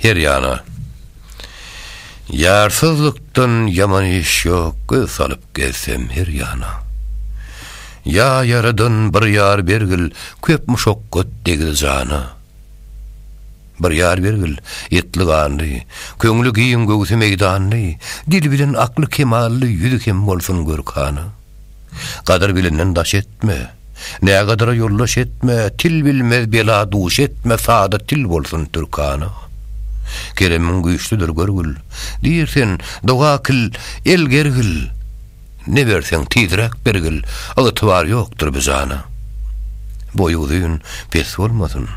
Her ýana. Ýarsyzlykdan ýaman iş ýok göz salyp gezsem her ýana. Ýa ýaradan bir ýar bergil köp muşakgat degdi jana. Bir ýar bergil etli ganly köňli giň göwsi meýdanly dil bilen akly kemally ýüzi hem bolsun görkana. Gadyr bilenden daş etme, Nägadara ýoldaş etme, Til bilmez bela duş etme, Sada til bolsun türkana. Keremiň güýçlüdir görgül, Diýr sen, doga kil, el gergil, Ne berseň tizräk bergil, Ygtybar ýokdur bi jana. Boýy uzyn, pes bolmasyn,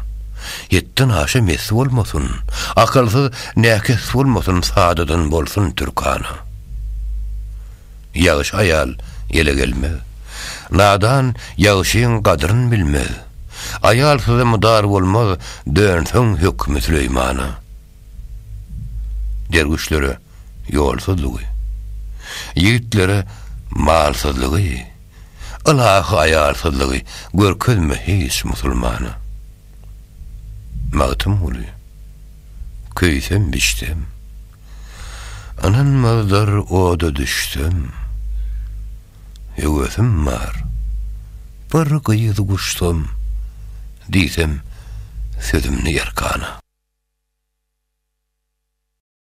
Hetden aşa mes bolmasyn, Akylsyz, näkes bolmasyn, Sadadan bolsun türkana. Ýagşy aýal ele gelmez. Nadan ýagşyň gadryn bilmez. Aýalsyza mydar bolmaz, Dönseň hökmi Süleýmana. Derwüşlere ýolsuzlygy. Ýigitlere malsyzlygy. Ylahy aýalsyzlygy Görkezme hiç musulmana. Magtymguly, Köýsem-biçsem. Ynanmazlar oda düşsem Höwesim bar Bir gyz guşsam Diýsem sözümni erkana.